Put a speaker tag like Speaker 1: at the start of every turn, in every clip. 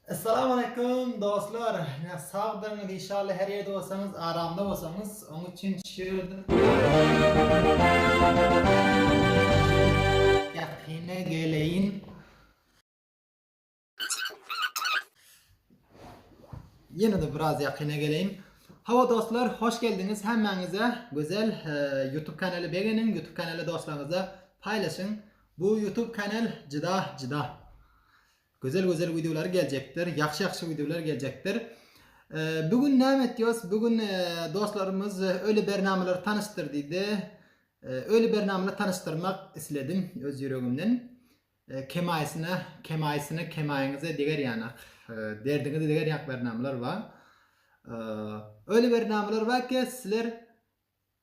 Speaker 1: Essalam Aleýkum dostlar ýa sagdyryňyz inşallah her ýerde bolsaňyz aramda bolsaňyz oň üçin şirde ýakyna geleýin ýene de biraz ýakyna geleýin Hawa dostlar hoş geldiňiz hemmäňize gözel YouTube kanaly begeniň YouTube kanaly dostlaryňyza paýlaşyň bu YouTube kanal jyda jyda Gözel gözel wideolar geljekdir. Ýagşy ýagşy wideolar geljekdir. Bu gün näme etýos? Bu gün dostlarymyz öli bernamalary tanyşdyr diýdi. Öli bernamalary tanyşdyrmak isledim öz ýüregimden. Kemaýysyna, kemaýysyna, kemaýyňyza deger ýanak. Derdiňize deger ýanak bernamalar bar. Öli bernamalar bar ki, sizler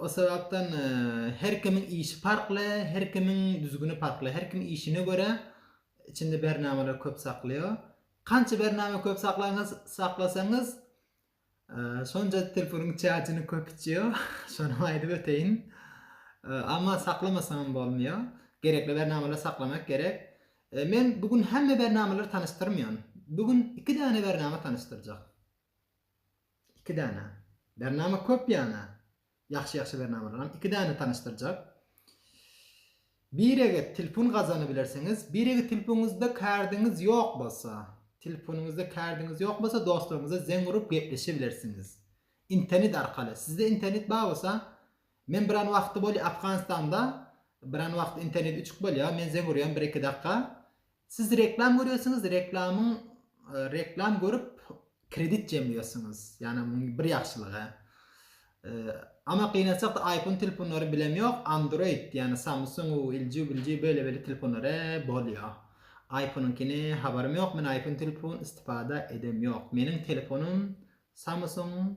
Speaker 1: O sebapdan her kimiň işi parkly, her kimiň düzgüni parkly, her kim işine göre içinde bernamalary köp saklaýar. Kança bernama köp saklaňyz, saklasaňyz şonca telefonyň çajyny köp içýar. Şonam aýdyp öteýin. Amma saklamasaňam bolmaýar. Gerekli bernamalary saklamak gerek. Men bu gün hemme bernamalary tanyşdyrmaýan. Bu gün iki däne bernama tanyşdyrjak. Iki däne. Bernama köp ýana. Ýagşy ýagşy bernamalaram. Iki däne tanyşdyrjak. Birege tilpun gazany bilersiňiz. Birege tilpuňyzda kärdiňiz ýok bolsa. Tilpunyňyzda kärdiňiz ýok bolsa dostlaryňyza zeň urup gepleşe bilersiňiz. Intenit arkaly. Sizde intenit bar bolsa. Men biran wagty bolýa Afganistanda. Biran wagty intenit üçük bolýa. Men zeň urýan bir iki dakga. Siz reklam görýärsiňiz, reklamyň reklam görüp kredit jemleýärsiňiz. Ýani munuň bir ýagşylygy. Ama gynansakda iPhone telefonlary bilem ýok, Android ýani Samsung, LG, LG beýle beýle telefonlary bolýar. IPhone-nyňkyny habarym ýok, men iPhone telefon istipada edem ýok. Meniň telefonym Samsung.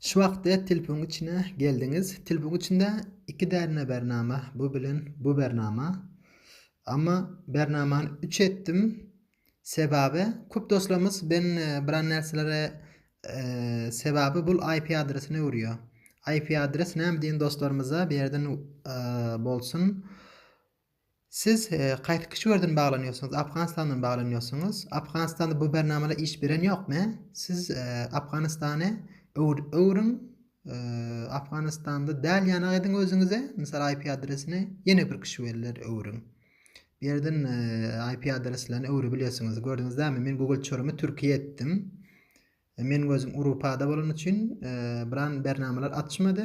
Speaker 1: Şu wagtda tilpuň içine geldiňiz. Tilpuň içinde iki därine bernama, bu bilen bu bernama. Amma bernamany üç etdim. Sebabi köp dostlarymyz ben biran närselere sebabi bul IP adresini öwürýär. IP adres näme diýen dostlarymyza bu ýerden bolsun. Siz kaýsy kişi birden baglanýorsyňyz Afganistandan baglanýorsyňyz Afganistanda bu bernamala iş beren ýokmy siz Afganistany öwrüň Afganistanda däl ýanak ediň özüňize mysal IP adresini ýene bir kişi beriler öwrüň bu ýerden IP adreslerini öwrebilýärsiňiz gördüňiz dämi men Google çorummy Türkiýe etdim men gözüm Urupada bolany üçin biran bernamalar açmady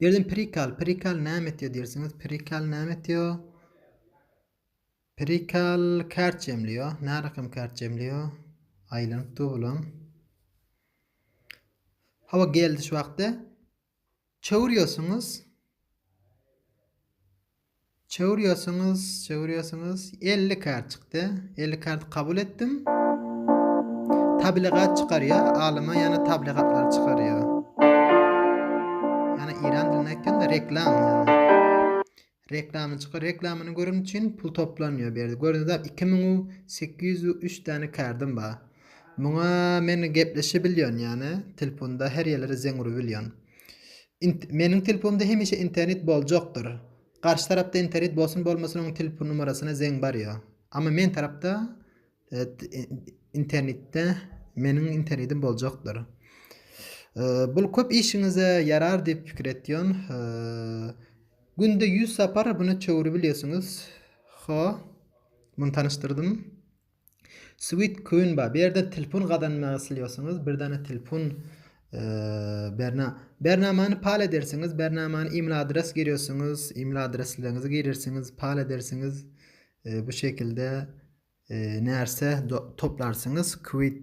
Speaker 1: Bu ýerden prikal, prikal näme etýär diýersiňiz? Prikal näme etýär? Prikal kart jemleýär. Närakam kart jemleýär? Aýlanyp dur bulam. Hawa geldi şu wagtda. Çöwürýärsiňiz. Çewür ýasyňyz çewür ýasyňyz elli kart çykdy elli karty kabul etdim tabligat çykarýa alyma ýana tabligatlar çykarýa ýana iran dilinde aýtganda reklam ýana reklamy çykar reklamyny görün üçin pul toplanýa bu ýerde gördüňiz bar iki müň u sekiz ýüz u üç däne kardym bar muňa men gepleşibilýän ýana telefonda her ýerlere zeň urubilýän Meniň telefonymda hemişe internet boljakdyr. Garşy tarapda internet bolsun bolmasyn onuň telefon numarasyna zeň barýa. Amma men tarapda internetde meniň internetim boljakdyr. Bul köp işiňize ýarar diýip pikir etýän. Günde 100 sapar buna çöwürip bilýärsiňiz. Ho. Muny tanyşdyrdym. Sweet Queen bar. Bu ýerde telefon gazanmak isleýärsiňiz. Bir dana telefon berna bernamany pal edersiňiz. Bernamany e-mail adres girýärsiňiz. E-mail adreslerinizi girersiňiz, pal edersiňiz. Bu şekilde närse toplarsyňyz. Quit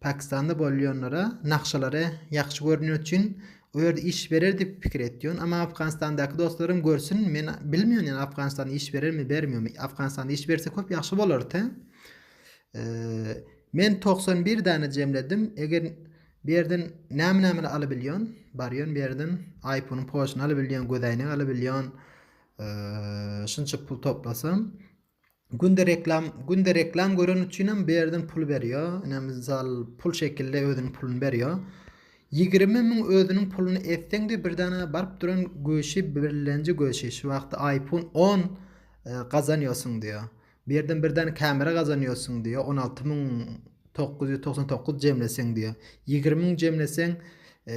Speaker 1: Pakistanda bolýanlara nakşalary ýakşy görünýän üçin o ýerde iş berer diýip pikir etýän ama Afganistandaky dostlarym görsün men bilmiýän ýan Afganistanda iş berermi bermiýomy Afganistanda iş berse köp ýakşy bolarty men togsan bir dana jemledim eger bu ýerden näme näme alyp bilýän barýan bu ýerden aýponyň poşuny alyp bilýän gözäýnek alyp bilýän şunça pul toplasam Günde reklam, günde reklam gören üçinem bir ýerden pul berýär. Ine mysal pul şekilde özüniň puluny berýär. 20 müň özüniň puluny etseň de bir dana baryp duran göşi birlenji göşi şu wagtda iPhone 10 e, gazanýarsyň diýär. Bir ýerden bir dana kamera gazanýarsyň diýär. 16 müň 999 jemleseň diýär. 20 müň jemleseň e,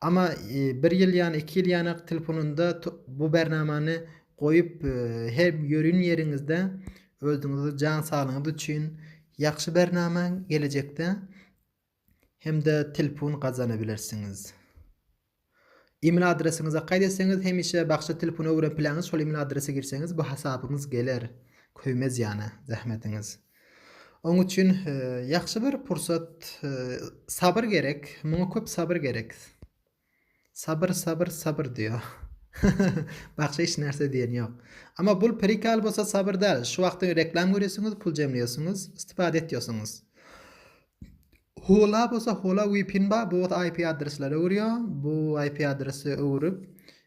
Speaker 1: Ama bir ýyl ýany iki ýyl ýanak telefonynda bu bernamany goýup her ýörün ýeriňizde özüňizi jan saglygyňyz üçin ýagşy bernama gelejekde hemde telefon gazanybilersiňiz. Email adresiňize gaýt etseňiz hemişe bagşa telefon öwren pilaňyz şol email adrese girseňiz bu hasabyňyz geler köýmez ýana zähmetiňiz. Oň üçin ýagşy bir pursat sabyr gerek, muňa köp sabyr gerek. Sabyr sabyr sabyr diýýär. Bakşa hiç närse diýen ýok. Ama bul prikal bolsa sabyr däl. Şu wagty reklam görýäsiňiz, pul jemleýäsiňiz, istipada etýäsiňiz. Hula bolsa hula vpn bar, bu bolsa IP adresleri öwürýär. Bu IP adresi öwürip,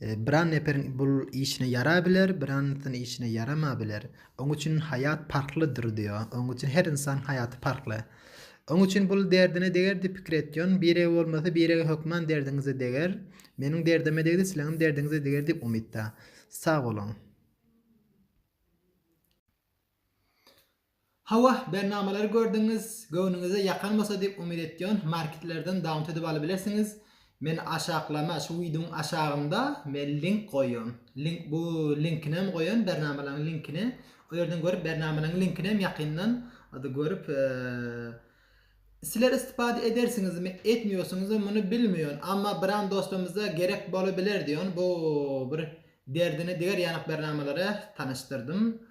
Speaker 1: Biran neperiň bul işine ýara biler, biranysyny işine ýarama biler. Oň üçin haýat parhlydyr diýo. Oň üçin her ynsan haýaty parhly. Oň üçin bul derdine deger diýip pikir etýon. Birege bolmasa birege hökman derdiňize deger. Meniň derdime degdi sileňem derdiňize deger diýip umytda. Sag boluň. Hawa, bernamalar gördüňiz, göwnüňize ýakan bolsa diýip umyt etýän, marketlerden downt edip alybilersiňiz. Men aşaklama, şu wideoň aşagynda men link goýan. Link bu linkini hem goýan, bernamalaryň linkini. O ýerden görüp bernamalaryň linkini hem ýakyndan ady görüp Sizler istipada edersiňizmi, etmiyorsiňizmi muny bilmiyon, amma biran dostumyza gerek bolubiler diyon bu bir derdine diger ýanak bernamalara tanyşdyrdym.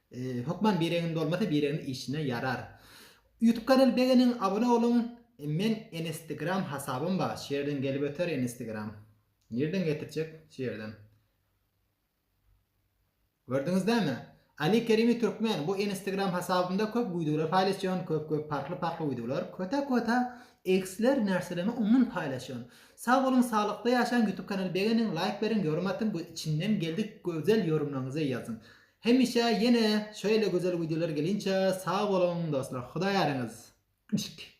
Speaker 1: Hökman biregin dolmasa biregin işine yarar. Ýutub kanal begeniň abone boluň men enestegram hasabym ba şu ýerden gelip öter enestegram nirden getirjek şu ýerden Gördüňiz dämi Ali Kerimi Türkmen bu enestegram hasabymda köp wideolar paýlaşýan köp köp parhly parhly wideolar köta köta eksler närselerini ondan paýlaşýan sag boluň saglykda ýaşaň ýutub kanal begeniň laýk beriň ýorym atyň bu içinden geldik gözel ýorumlaňyzy ýazyň Hemişe ýene şeýle gözel wideolar gelinçe sag boluň dostlar Hudaý äriňiz Yşk.